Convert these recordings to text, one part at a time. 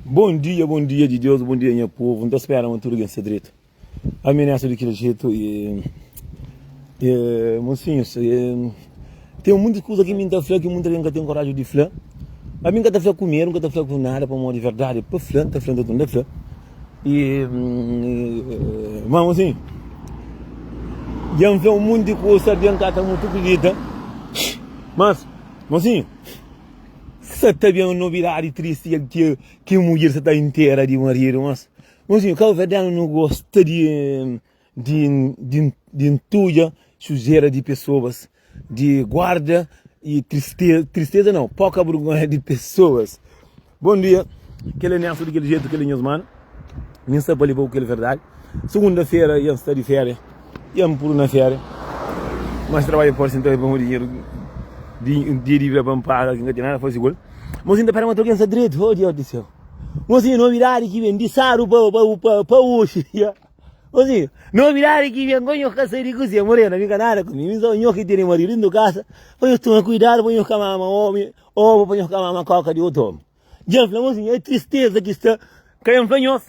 Bom dia, bom dia de Deus, bom dia nha povo, n'ta spera ma tudo gen sta dreto, ami n'é asa di kel jeito e e mocinhos e tem muitas coisa ki mi n'ta fla ki muita gen ka tem coragem di fla, ami n'ka ta fla ku medo, n'ka ta fla ku nada pamodi verdade pa fla n'ta fla n'ta tudo n'ta fla e ma mocinho dja n'fla um monte di coisa dja n'ka ta muito acredita mas mocinho. Sa ta ben un novidadi tristi kel dia ki mudjer sa ta intera di maridu. Mas, meus amigu, kauverdianu nu gosta di di di di ntudja sujera di pesoas, di guarda y tristeza, tristeza nau, poka burgonha di pesoas. Bom dia, kel é Nelson di kel jetu, kel é nhos manu. Nin sta pa leba-u kel verdadi Segunda-fera i N sta di féria i N puru na féria Mas trabadja fórti si N ta bai pa un dinheru di Dia di bira pa N paga ki N ka ten nada faze ku el Mos N ta pera ma ta algen sta dretu Oh Diós di séu Mos N novidadi ki ben di sáru pa pa oxi Mos N novidadi ki ben pa nho ka sai di kusia Morena bin ka nada ku mi Bin só nho ki tene maridu dentu kasa Pa nho toma kuidadu pa nho ka mama ómi Óbu pa nho ka mama kóka di otu ómi Dja fla-m asin, é tristeza ki sta ka N fla nhos,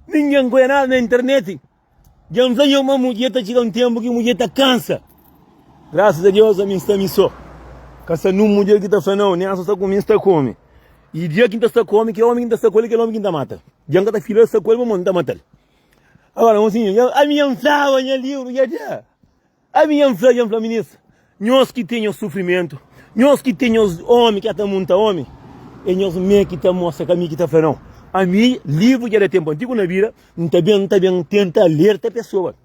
ninguém N konha nada na internet. Dja N fla nhos ma mudjer ta txiga un tenpu ki mudjer ta kansa. Graças a Deus ami N sta mi sô, ka sta nun mudjer ki ta fla nau, nem aso sta ku mi N sta ku omi. I dia ki N ta sta ku omi, ki omi ki N ta sta ku el é kel omi ki N ta mata. Dja N ka ta fila sta ku el pamodi N ta mata-l. Agora, un sinhor, ami dja N flaba nha livru dja dá. Ami nha N fla, nha N fla minis, nhos ki ten nhos sufrimentu, nhos ki ten nhos omi ki ata munta omi, é nhos mê ki ta mostra ka ami ki ta fla nau. Ami, livru dja da tenpu antigu na bira, N ta ben, N ta ben tenta alerta pesoas.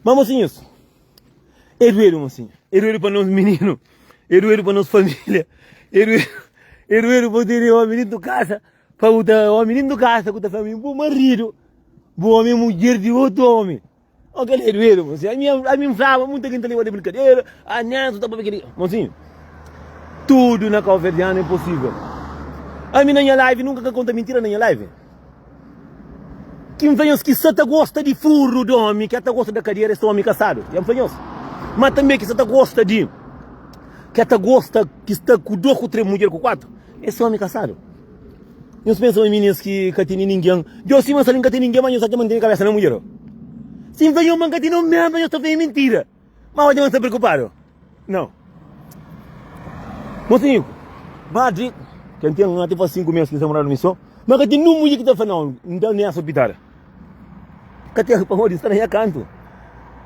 Ma mosinhus, é duedu mosinhu, é duedu pa nos mininu, é duedu pa nos familia, é duedu, é duedu pa bu tene omi dintu kasa, pa bu ta omi dintu kasa ku ta fla ami, bu maridu, bu omi é mudjer di otu omi. Ó kel é duedu monsinhu, ami ami N flaba muita ki N ta leba di brinkadera, a Neto ta papia kel li. Monsinhu, tudu na kauverdianu é posivel. Ami na nha live nunka ka konta mintira na nha live. Ki N fla nhos ki sa ta gosta di furru di omi ke ta gosta da kadera es ta omi kasadu, ya N fla nhos. Ma tanbe ki sa ta gosta di, ke ta gosta ki sta ku dos, ku tres mudjer, ku kuatru es ta omi kasadu. Nhos pensa ma mi nes ki ka tene ningen. Djo sima sa li nka ten ningen ma nhos acha ma ntene kabesa na mudjer. Sim fla nhos ma nka tene omen pa nhos ta fla mentira. Ma oja ma nsta preokupado. Nau. Mosi niku. Madri, ken ten un ati faz 5 mes ki sa morado mi so, ma ka ten nun mudjer ki ta fla nau, nta ne asa pitada. Ka ten pamodi nsta na nha kantu.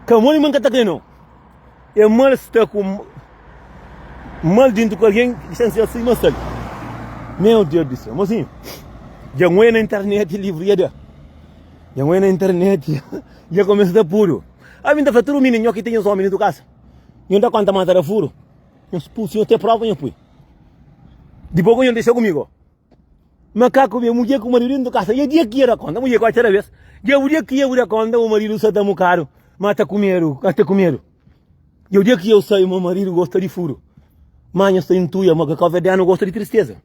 Ka modi ma nka ta kre nau. É mal sta ku mal dintu ku algen ki sen ser si mas sali. Meu Deus di sel, mozinho. Dja ngoi na internet livru ya da. Dja ngoi na internet dja kumesa ta puru. A mi ta fla tudu mininu nho ki tinha omi dintu kasa. Nho ta konta mata da furu. Nho spusi, nho te prova nho pui. Dipos ku nho disa kumigo. Makaku vê mudjer ku maridu dentru kasa. Dja dia ki dja da konta. Mudjer kóre txera bes. Dja bu dia ki dja bu da konta bu maridu sa ta mukadu ma ta kumedu. Ka ta kumedu. Dja dia ki dja bu sabe ma maridu gosta di furu. Ma nha sta intuia ma ke ka vê djanu gosta di tristeza.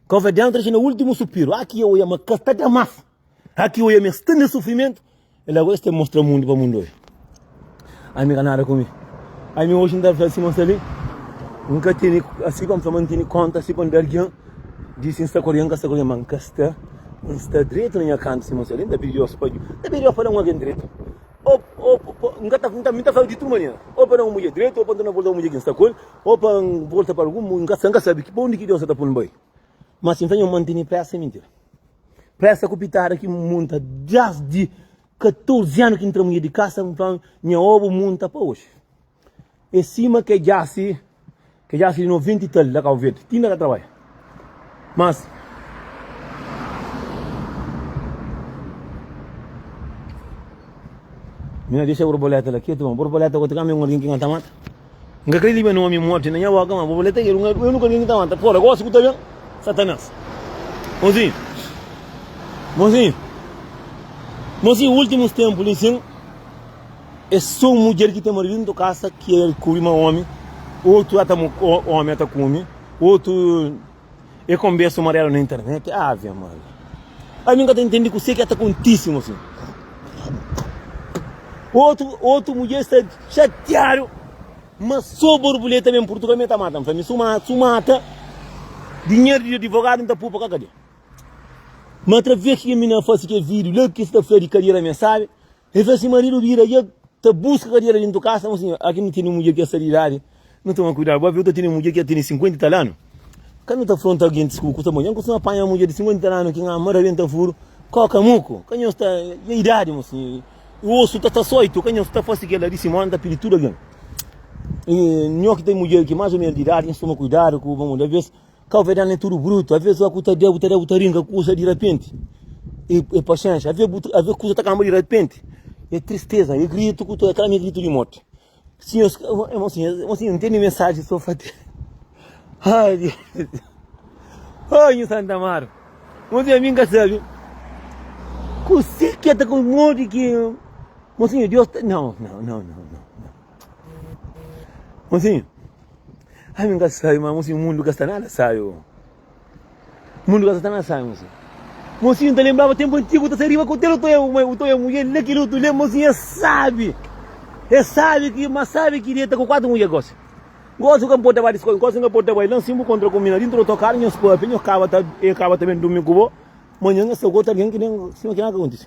Ka vê djanu ta dexa na ultimu supiru. Aki dja oia ma ka sta ta mas. Aki oia mi es sta na sufrimentu el agora es ta mostra mundu pa mundu oia ami ka nada ku mi ami oji n ta fla si ma sabi n ka tene asi pa n fla ma n tene konta asi pa n da algin disi n sta ku algin ka sta ku algin ma n ka sta n sta dretu na nha kantu si ma sabi n ta pidi Deus pa n ta pidi Deus pa da un algin dretu o o n ka ta fla mi ta fla di tudu manera o pa da un mudjer dretu o pa n torna volta pa mudjer ki n sta ku el o pa n volta pa algun mu n ka sta n ka sabi pa undi ki Deus sa ta pui n bai. Mas si N ta nha mantene presa é mintira. Presa ku pitada ki N munta desdi 14 anu ki N tra mulher di kasa, N fla nha oba bu munta pa oji. É sima ke djasi, ke djasi di 90 i tal la Kabo Verdi, ti N ka trabadja. Mas, mi na dexa borboleta la ketu ma borboleta ku otu kamba é un algin ki N ka ta mata. N ka krê liba nomi morti na nha boka, ma bo fla ta gera un ernuka ki ta mata. Pora, gosi ku ta ben, Satanás. Mozinhu, mozinhu, mozinhu, últimus tenpu li sin, é sô un mudjer ki ta mardidu nton kasa ki el kubri ma omi, otu ata omi ata kume, otu. E konbesa uma dela na internet. Ave Maria. A mim ka ta entendi kusé ki é ta kontisi mo sin. Otu, otu mudjer sta xatiadu, ma so borbuleta ben Portugal mi é ta mata. Mi fla, mi su ma, su mata, dinheru di adivogadu N ta pua pa ka kadia. Ma atraves ki ke mi na fasi ke video la ki es ta fla di kadia la mi é sabe. E fla si maridu bira i e ta buska kadera dentu kasa, fla, Sinhor, aki nu tene un mudjer ki e sta di idadi, nu toma kuidadu. Bu aviu ta tene un mudjer ki e tene sinkuenta i tal anu? Ka nu ta fla un tal gentis ku ku ta modja, N kustuma panha mudjer di sinkuenta i tal anu ki N ama rabenta furu, koka muku. Ka nhos ta. E idadi, mo sinhor, i osu ta sta soitu. Ka nhos ta fasi kel-la di si mó, N ta pidi tudu algen. I nho ki ten mudjer ki más o ménus di idadi, nhos toma kuidadu ku bo. Modi alvês Kau ve dana é tudu brutu Avês ua ku ta dê bu ta dê bu ta rinka kusa dirapenti E e paxénxa Avê bu avê kusa ta kanba dirapenti E tristeza e gritu ku ta klama e gritu di morti Sim nhos Mon sim nhos Mon sim nhos ntende mensaji so fa tê Ai Deus Ai nhu Santa Marta Mon sim nhos mi nka sabe Ku si ki ta ku modi ki Mon sim nhos Deus ta nau nau nau nau nau Mosinhu, ami n ka sai, ma mosinhu mundu ka sta nada sai o. Mundu ka sta nada sai mosinhu. Mosinhu n ta lenbraba tenpu antigu, ta sai riba ku tel utoia utoia mudjer le kil utu le mosinhu e sabi, e sabi ki ma sabi ki deta ku kuatu mudjer gosi. Gosi bu ka mporta bai diskos, gosi bu ka mporta bai lan si bu kontra ku mina dintru di otokar nhos papia, nhos kaba ta e kaba ta ben durmi ku bo, manhan nhos ta gosi algen ki ben sinba kila ka kontisi.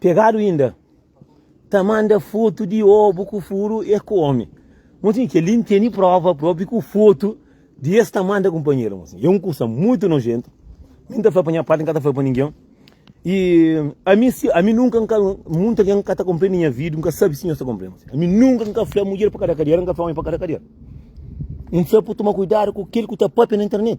Pegadu inda ta manda foto di obu ku furu e kome. Mosin, kel-li n tene prova propi ku foto di es ta manda kunpanheru. Mosin, e un kusa mutu nojentu. Mi n ta fla pa nha pati, n ka ta fla pa ningen. E ami, si ami nunka n ka, mutu algen ka ta konprende nha vidu, n ka sabe si nhos ta konprende. Ami nunka n ka fla mudjer pa kada kadera, n ka fla omi pa kada kadera. N fla pa bu toma kuidadu ku kel ku ta papia na internet.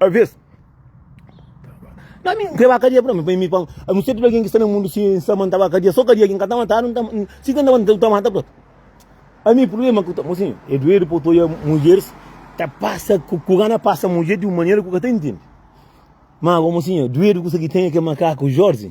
A vez, na mi n kreba kadia, mi bai mi pa a nu seta algen ki sta na mundu si n sta mantaba kadia, so kadia ki n ka ta matadu, si ka ntaba n ta mata pa. Ami prubléma ku ta mo sin e duedu pa ku ta oja mudjeris ta pasa ku kuran a pasa mudjer di un manera ku ka ta intende. Ma gomo sin e duedu kuzê ki ten e ke makaku Jorzi.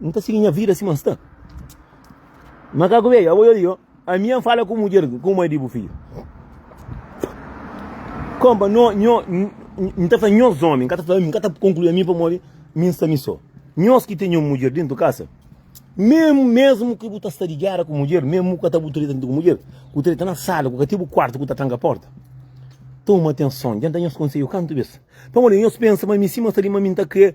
N ta sigi nha vida sima N sta. Makaku Bedju, Abo yori yo, ami N fala ku mudjer ku mai di bu fidju. Konpa, Nho, nho, N ta fla nhos omi, N ka ta fla ami, N ka ta konklui ami pamodi mi N sta mi so. Nhos ki ten nhos mudjer dentu kasa, memu, mesmu ki bu ta sta di géra ku mudjer, memu ku ka ta bu treta nta ku mudjer, ku treta na sala, ku ka ti bu kuartu ku ta tranka porta, toma atenson, djenta nhos konsedju kantu bes, pamodi nhos pensa ma mi sima N sta li ma mi N ta krê.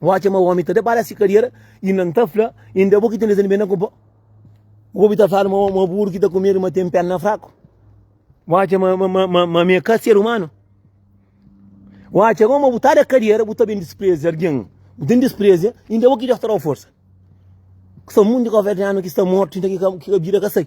Bo atxa ma omi ta da bala si kadera i nan ta fla, inda é bo ki ten dezendi ben na kupa. Bo bi ta fladu ma buru ki ta ku medu ma ten perna fraku. Bo atxa ma ami ka ser umanu. Bo atxa ma bo ta da kadera bo ta ben dispreza algin. Bo ten dispreza inda é bo ki Deus ta da-u forsa. Ku sta mundu di governianu ki sta mortu ki ka bira ka sai.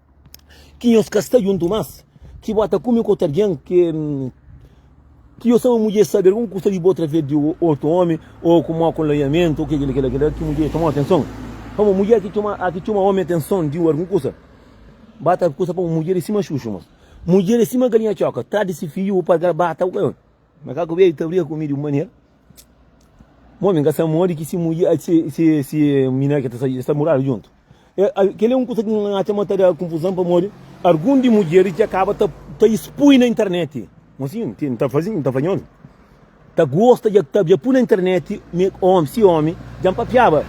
ki nhos ka sta djuntu más, ki bo ta kume ku otu algen, ki nhos txoma mudjer sábi? Algun ku sta di bo através di otu ómi, ô ku mau konlaiamentu, ô kel ki la kel la ki mudjer txomau atenson? Pamodi mudjer ki txoma ómi atenson di algun kusa, ba ta kusa pa un mudjer é sima xuxu, má mudjer é sima galinha txoka, tradu di se fidju, bu parga-l, ba ta. Makaku bia i ta briga ku mi di un manera ma omi ka sta modi ki se mudjer, eh, se, se, se minera ke ta sai, es ta muradu djuntu. Eh, ah, kel-li é un kusa ki N atxa ma ta da konfuzon pamodi algun di mudjeris dja kaba ta, ta ispui na interneti. Mon sinhu, ti N ta faze, N ta fadja omi ta gosta dja, ta dja pui na interneti mi omi, si omi dja N papiaba.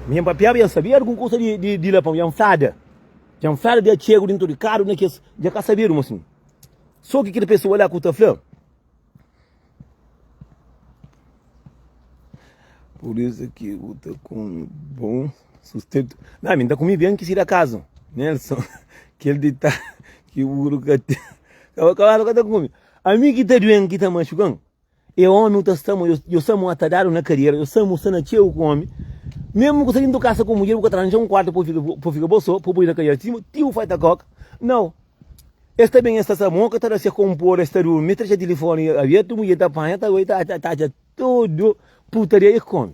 Mi dja N papiaba dja N sabia algun kusa di, di, di la, pamodi dja N flada, dja N flada di atxegu di N ta odi kadu na kes, dja ka sabedu, mon sinhu. Só ki kel pesoa la ku ta fla. Pur isu ki bu ta kume bon sustentu. Na, mi N ta kume ben ki si da kazu. Nelson, kel ditadu ki buru ka ten. Kaba kabalu ka ta kume. Ami ki ta duen ki ta maxukan. E omi u ta sta mo, yo sa mo atadadu na kadera, yo sa mo sta na txeu ku omi. Mesmu ku sa dintu kasa ku mudjer, bu ka ta ranja un kuartu pa u fika bo so, pa u pudi na kadera sima ti u falta koka. Nau. Es ta ben, es ta sa mo, ka ta da se konpodu, es ta durmi, es ta dexa tilifoni abertu, mudjer ta panha, ta bai, ta atxa tudu putaria. E ki ki omi?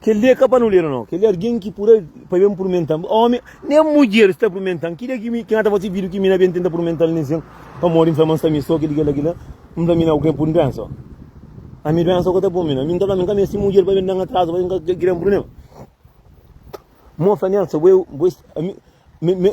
Kel li é ka pa nuleru nau, kel li é argen ki pura pa ben purmenta-m. Ómi, nen mudjer sta purmenta-m. Ki dia ki mi, ki N ta fase vidju ki mi na ben tenta purmenta-l nen sen pamodi N fla ma N sta mistó kel li, kel la, kel la? N fla mi nau ku kel purmenta sô. Ami duénsa ku ta pô-mi na. Mi N ta fla mi N ka meste mudjer pa ben da-m atrazu, pa ben kria-m prubléma. Mô fla Nélson, bo é, bo é, ami, me, me.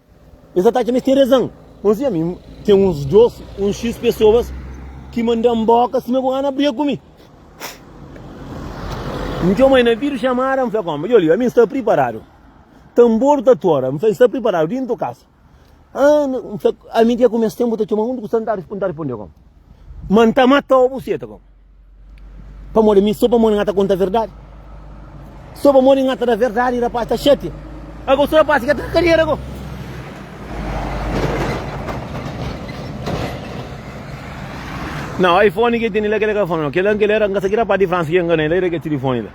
Es atacam es tem rezan. Bom sim, ami tem uns dos, uns X pessoas que mandam boca sima com Ana briga com mi. Me tchau mãe na vídeo chamada, me fala como, eu li, a mim está preparado. Tambor tá tora, me fala, está preparado, dentro do casa. Ah, me fala, a mim tem como esse tempo tá chamando, onde que está, não tá respondendo, não tá respondendo como. Mas tá matou você, tá como. Pamodi ami, so pamodi nga ta konta verdadi. So pamodi nga ta da verdadi i rapaz ta xatia. Ago so rapaz ka ta na kadiera ago. Não, iPhone que tem lá que ele falou, que lá que ele era, que era para de França que engana ele, ele que telefone lá.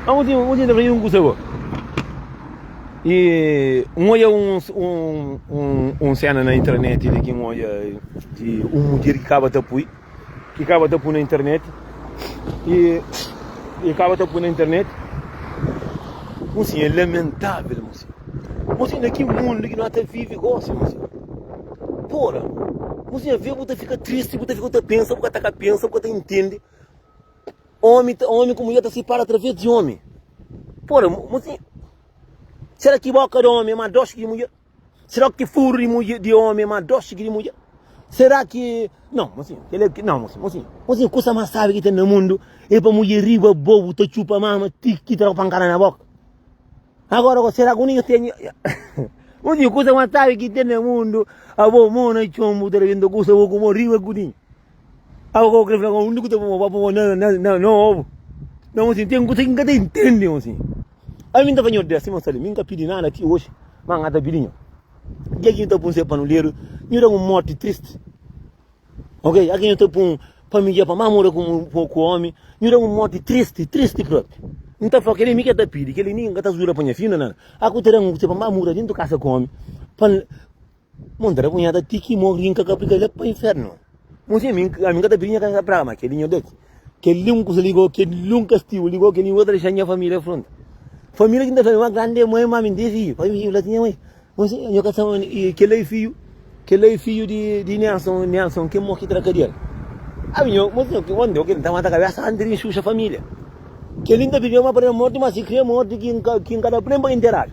Ah, um dia, um dia ele um curso E um olha um um um um cena na internet ele que um olha de um dia que acaba de apoiar. E kaba ta pu na internet e e kaba ta pu na internet mosi é lamentável mosi mosi na ki mundo que nós ta vive gosi mosi pora mosi a vê bu ta fica triste bu ta fica ta pensa bu ka ta ka pensa bu ka ta entende homem ta homem como ia ta separa através de homem pora mosi será que boca de homem é mais doce que mulher Será ki furu di mudje di ómi é más dósi ki di mudjer? Será ki. Não, mosinha, ele é. Não, mosinha, mosinha, mosinha, kusa más sábi ki ten na mundu é pa mudjer riba bobu ta txupa mama ti ki tra-u pankada na bóka. Agora, agora, será ki un dia ten. Mosinha, kusa más sábi ki ten na mundu abo mô na txon bu ta rebenta kusa bo ku mô riba kudinha. Abo ka bu krê fla-m, abo úniku ki ta pô mô pa pô mô na, na, na, na obu. Não, mosinha, ten kusa ki N ka ta intende, mosinha. Ami nta faña ordé, Simon Salim, mi nka pidi nada ti oji, ma nga ta pidi nho. Ki é ki nhu ta pun se panuleru? Nhu da un morti tristi. Ok? A ki nhu ta pun pa mi dja pa ma mora ku mu ku omi, nhu da un morti tristi, tristi propi. Nta fla kel mi ke ta pidi, kel ni nka ta zuda pa nha fina nada. A ku ta da un se pa ma mora dintu kasa ku omi, pa Mon ta da punhada ti ki morri nka ka aplica lei pa inferno. Mon si ami ami nka ta pidi nha casa ta praga ma keli nho deti. Keli un kusa ligo keli un kastigu ligo keli un ta dexá nha família fronta. Família ki nta fla ma grandi é moi ma ami nte fiju pa mi fla ti nha moi mon si nho ka sta ma kel la é fiju kel la é fiju di di Nelson Nelson ki morri tra kadial. Ami nho mon si mon nho kiri nta mata kabesa anti di inxuxa família. Keli nta pidi ma pa da morti ma si kria morti ki nka ki nka da plen pa interadu.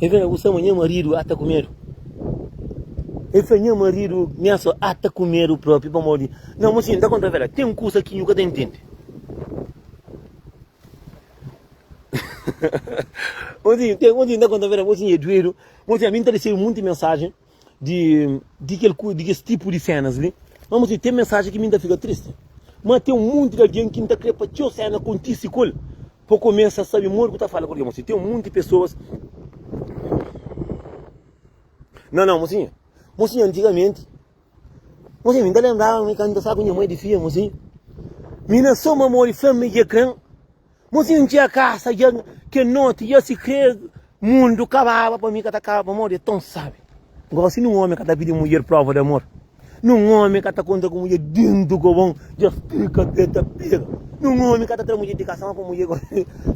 El fla, Bu sa ma nha maridu ata ku medu? El fla, Nha maridu miaso ata ku medu propi pamodi di. Nau, ma si, N ta konta bela, ten kusa ki nhu ka ta intende. Nau, ma si, N ta konta bela, ma si, N é duedu, ma si, ami N ta resebe monti mensajen. di di kel ku di kes tipu di senas li ma mos ten mensaji ki mi ta fika tristi ma ten un monti di algen ki ta kre pa txeu sena kontisi ku el pa kumesa sabi modi ku ta fala ku algen mosi ten un monti pesoas nan nan mosi mosi antigamenti mosi mi ta lenbraba mi kanta sa ku nha mai di fia mosi mi na so mamori fla mi ki e kren Mozinhu N txia kasa dja Kel noti dja si kre mundu kababa Pa mi ka ta kaba pamodi é ton sabi Gosi nun omi ka ta pidi mudjer prova di amor Nun omi ka ta konta ku mudjer dentu ku bon dja Kel kabel ta pega Nun omi ka ta tra mudjer di kasa ma pa mudjer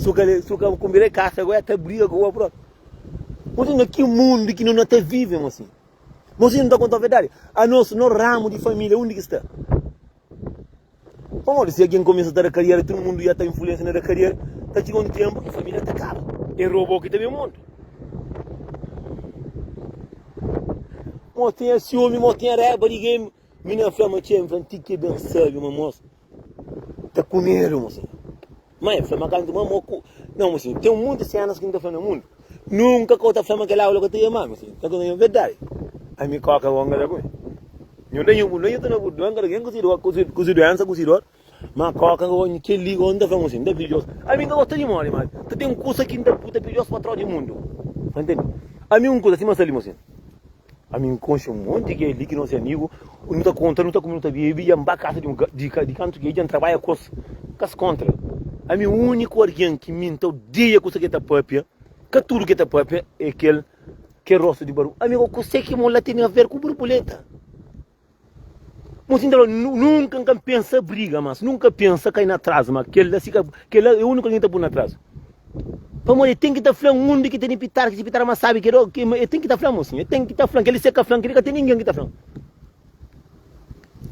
Su ka konbida di kasa goi el ta briga ku bo propi Mozinhu na ki mundu ki no na ta vive mozinhu Mozinhu N ta kontau verdadi Anos no ramu di familia undi ki sta? Pamodi si algen kumesa ta da kariera, tudu mundu ya ta influensia na da kariera, ta txiga un tenpu ki familia ta kaba. É robô ki ta ben mundu. Mo tinha siumi, mo tinha raiba di gemi. Mi na fla ma txeu, mi fla, N ti ki é ben sabi, ma mos ta ku medu, mo senhor. Má el fla ma kantu ma mo ku. Nau ma si, ten monti sénas ki nu ta fla na mundu. Nunka ka bu ta fla ma kel aula ka ta da mal, ma si, ka ta da nho berdadi. Ami kóka é bon kada ku mi. Nho da nho bu nonhu ta na bu dóen kada ken ku si dór, ku si, ku si duénsa, ku si dór. Má kóka ka odja kel-li, ô N ta fla ma si, N ta pidji-os. Ami N ka gosta di móre, má ka ten kusa ki N ta bu ta pidji-os pa trau di mundu. Sta ntende? Ami un kusa sima sta li, ma si. Ami N konxe un monti ki é li ki nos é amigu, nu ta konta, nu ta kume, nu ta bebe, dja N ba kasa di un di kantu ki é, dja N trabadja ku es, ka es kontra. Ami úniku algen ki mi N ta odeia kusa ki el ta pâpia, ka tudu ki el ta pâpia, é kel ki é rostu di barbu. Ami, kau kuse ki mon la tene aver ku barbuleta? Mosi nta fla, nunka n ka pensa briga mas, nunka pensa kai na tras ma, kel la si ka, kel la e uniku algen ki ta pui na tras. Pamodi e ten ki ta fla undi ki tene pitar, ki si pitar mas sabi ki do, ki e ten ki ta fla mosinha, e ten ki ta fla, kel li si e ka fla kel li ka ten ningen ki ta fla.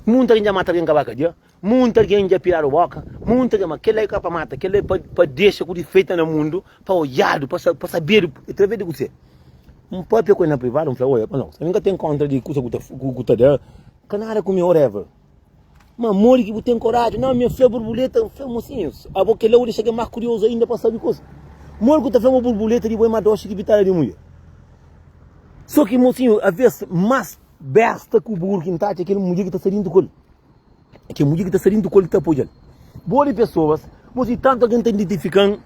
Munta algen dja mata algen ka ba ka dia, Munti algen dja piradu boka, munti algen, ma kel-la é ka pa mata, kel-la é pa dexa ku difeita na mundu, pa odjadu, pa sabedu atraves di kuzê? Un pâpia ku el na privadu, un fla, Oi, apa nau, ami ka ten kóntra di kusa ku ta da, ka nada ku mi, whatever. Ma modi ki bu ten koraji? Nau, mi fla burbuleta, un fla, Mosinhus, abo kel-la bu dexa algen más kuriozu ainda pa sabe kusa. Modi ku ta fla ma burbuleta di bo é más doxi ki pitada di mudjer? Só ki, mosinhu, avês más bésta ku buru ki N ta atxa é kel mudjer ki ta sta déntu ku el. Ke mudjer ki ta sta dintu ku el ki ta apoja-l. Bo di pesoas, mo si tantu algen ta identifika-m,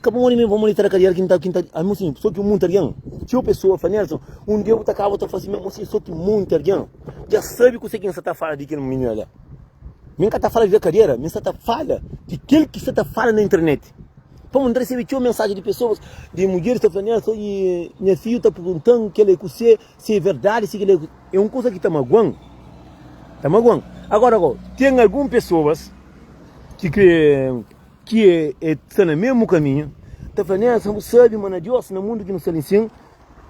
ka pamodi mi pamodi ta na kadiera ki N ta, ki N ta, amo si so ki monti algen. Txeu pesoa fla, Nelson, un dia bu ta kaba ta fla simé, amo si so ki monti algen. Dja sabe kuse ki N sta ta fala di kel minina la? Mi N ka ta fala di la kadiera, mi N sta ta fala di kel ki sta ta fala na internet. Pamodi N ta resebe txeu mensaji di pesoas, di mudjeris ta fla, Nelson, nha fidju ta pergunta-m kel la é kuse, Si é verdadi, si kel-li é un kuza ki ta magua-m, ta magua-m. Agóra, gó, ten algun pesoas ki krê, ki é, é sta na mésmu kaminhu, ta fla, Nénsia, bu sabe ma na Diós, na mundu ki nu sta li sin,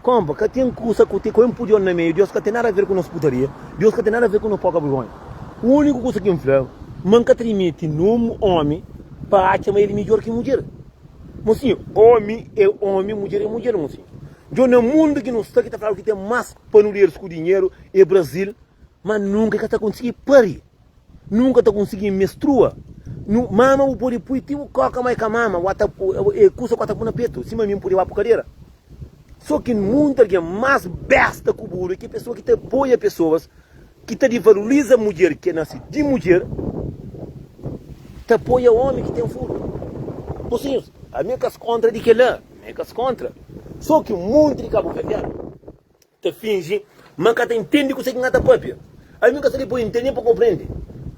kónpa, ka ten kuza ku ten, ku N pudi-l na meiu. Diós ka ten nada a ver ku nos putaria. Diós ka ten nada a ver ku nos poka vergónha. Úniku kuza ki N fla é ma N ka ta dimiti num ómi pa atxa ma el midjór ki mudjer. Mosinhu, ómi é ómi, mudjer é mudjer, mosinhu. Djon na mundu ki nu sta ki ta fladu ki ten mas panuderis ku dinheru e Brazil ma nunka ka ta konsigi pari nunka ta konsigi mestrua nu mama bu podi pui ti bu koka ma e ka mama bu ta e kusa ku ta bu na petu sima mi pudi ba pu kadera so ki mundu algen mas besta ku buru e ki pesua ki ta apoia pesoas ki ta divaloriza mudjer ki é nase di mudjer, ta apoia ómi ki ten furtu. Mosinhus, ami N ka sta kóntra di kel-la, ami N ka sta kóntra. Sô ki un monti di kabuverdianu ta finji ma N ka ta intende kuzê ki N ta pâpia. Ami N ka sta li pa N intende nen pa N konprende.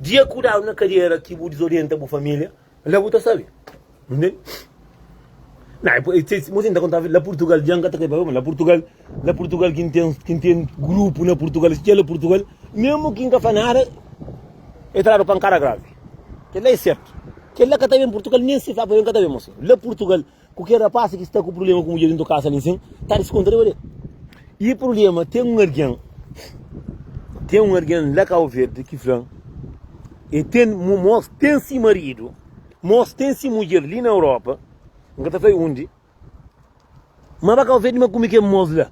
Dja kudadu na kadera ki bu dizorienta bu família. La bu ta sabe. Ntende? Na, é por- é ti- mo sin ta kontaba, la Portugal, djan ka ta kai pa Roma, la Portugal, la Portugal kin ten, kin ten grupu na Portugal, si txeu la Portugal, mesmu kin ka fla nada, e tradu pankada gravi. Kel la é sertu. Kel la ka ta ben Portugal, nen si fla pa el, el ka ta ben, mo sin. La Portugal. Ku kel rapaz ki sta ku prubléma ku mudjer di ntokaza li nsin, ta diskontra riba del. I prubléma, ten un algen, ten un algen la Kau Verdi ki fla-m, e ten, mos ten si maridu, mos ten si mudjer li na Europa, N ka ta fla-i undi, ma ba Kau Verdi ma kume kel mos la.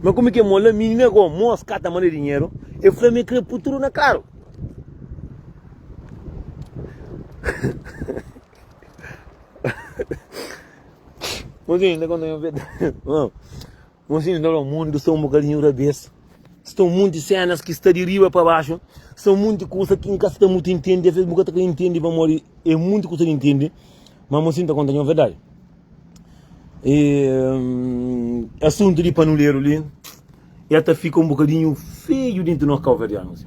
Ma kume kel mos la, mi na Gau, mos ka ta manda dinheru, e fla-m e kre pui tudu na karu. Mozinho, ta conta-mi un verdadi. Não. Mozinho, não, o mundo está um bocadinho rabeço. Estão muitas cenas que está de riba para baixo. São muitas coisas que nunca está muito entende. Às vezes nunca está entende para morrer. É muita coisa que entende. Mas mozinho, ta conta-mi un verdadi. E, hum, assunto de panuleiro ali. El ta fika un bokadinhu feju dentu nos kauverdianu si.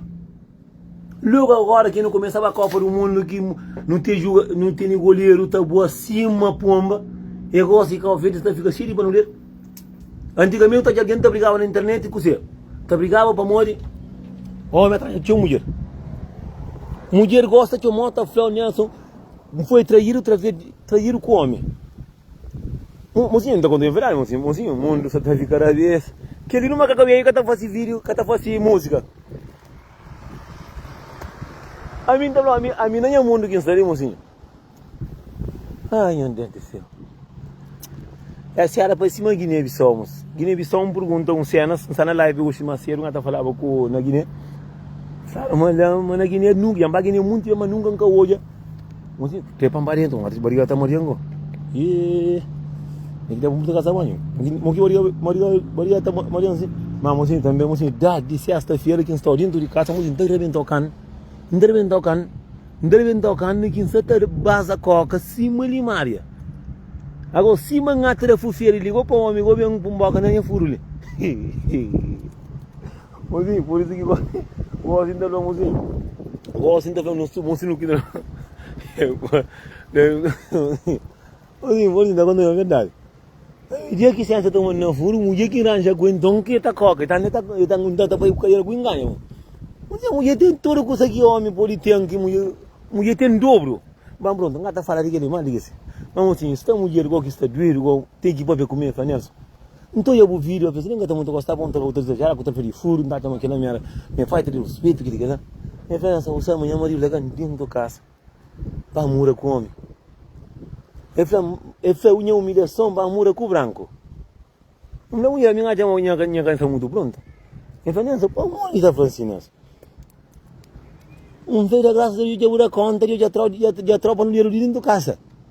Logu agora ki nu komesa ba Kopa du Mundu ki nu ten juga, nu teni goleru ta bua sima pomba, e gosi Kauverdi ta fika xei di banuder. Antigamente ta algen ta brigaba na internet kuse? Ta brigaba pamodi omi atraja txeu mudjer. Mudjer gosta txeu mó ta flau niason, N foi trairu, traver, trairu ku omi. Mozinhu, N ta konta-u un verdadi, mozinhu Mozinhu, mundu sa ta fika da bes Kel-li nu maka kabeju ka ta fase vídiu, ka ta fase múzika Ami N ta fla-u, ami, ami na nha mundu ki N sta li, mozinhu Ai, nho Deus di séu Es ki éra pa sima Guiné-Bissau, mos Guiné-Bissau, N purgunta-u un séna N sta na live oxi más sédu, nha ta falaba ku na Guiné N fla-u ma la, ma na Guiné, nunka, dja N ba Guiné monti bes ma nunka N ka odja. Onde que para barriga então, até barriga tá barriga não. E tem que dar muito casa banho. Mo que barriga barriga barriga tá barriga assim. Mas mocinho também mocinho dá de sexta feira que está dentro de casa mocinho tem que rebentar o can, tem que rebentar o can, tem que rebentar o can que está ter baza coca cima limária. Agora cima ngatra fufeira ligou para o homem, ligou bem para um boca nem é furo ali. Mozinhu, por isu ki Gósin ta fla, Mozinhu, Gósin ta fla nos tudu, Mozinhu, ki ta fla. Mozinhu, por isu ki ta konta-m verdadi. Dia ki Sénsia ta manda-m furu, mudjer ki N ranja ku el, nton ki el ta koka. El ta koka, el ta ngunta, el ta faze ku kadiera ku inganu, mon. Mudjer, mudjer ten tudu kusa ki ómi pode ten, ki mudjer, mudjer ten dubru. Ba, prontu, N ka ta fala di kel-li más di ki si. Má, mozinhu, sta mudjer gó ki sta duedu, gó, ten ki pâpia ku mi, el fla Nélson. N ta odja bu video apesar di N ka ta mutu gosta pamodi N ta ba otus exajerar ku trafa di furu, N ta atxa ma kel-la mi éra nha falta di ruspetu ki di kes-la. Nha fé na Samucel ma nha maridu ta ka ntentu kasa pa mura ku omi. El fla ma el fla nha umilhason pa mura ku branku. N fla ku el mi N atxa ma nha ka nha ka sta mutu prontu. El fla Nelson pamodi ki sta fla si Nelson? N fla el fla grasas a Deus dja bu da konta dja dja tropa nu dinheru di dentu kasa.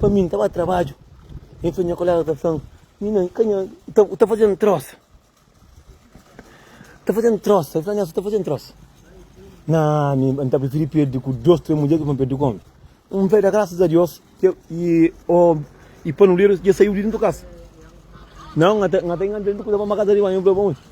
Pa mi, n ta ba trabadju, nton nha kolega ta fla-m, Minan, i ka nha. U ta faze-m trosa. Ta faze-m trosa. El fla, Nélson, u ta faze-m trosa. Nan, mi n ta prifiri perde ku dôs, três mudjer di ki pa perde ku ômi. N fla, i da grasas a Deus ki el i panuleru dja saiu di déntu di kasa. Nan, n ata inganadu el, n ta kuza pa-m pa kasa riba. Ami, n fla, Bon.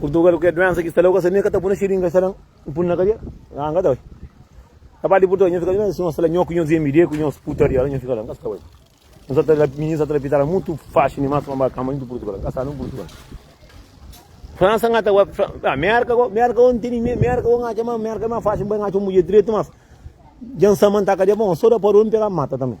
Purtugal ke duensa ki sta la ku asa mi ka ta puna xiringa sa nan n pun na kadera a n ka ta bai ta parti purtugal nho fika la si nho sta la nho ku nhos MD ku nhos putaria la nho fika la n ka sta bai nho sa ta la mininu sa ta la pitara mutu faxi dimas pa ba kama intu purtugal ka sa nan purtugal Fransa n ka ta bai a Merka ko Merka o n tene me Merka o n atxa ma Merka e mas faxi n bai n atxa un mudjer diretu mas dja n sa ma n ta kadera bon so da padu o n pega mata tambe.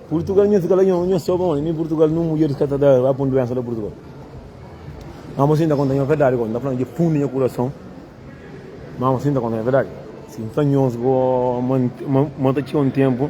Purtugal nha fika la nha nha soba ondi ni purtugal nu mudjeris ka ta da ba pun duensa la purtugal ma mo si nta konta nha verdadi ko nta fla dje fundi nha kurason ma mo si nta konta nha verdadi si nfla nhos go ma nta txeu un tenpu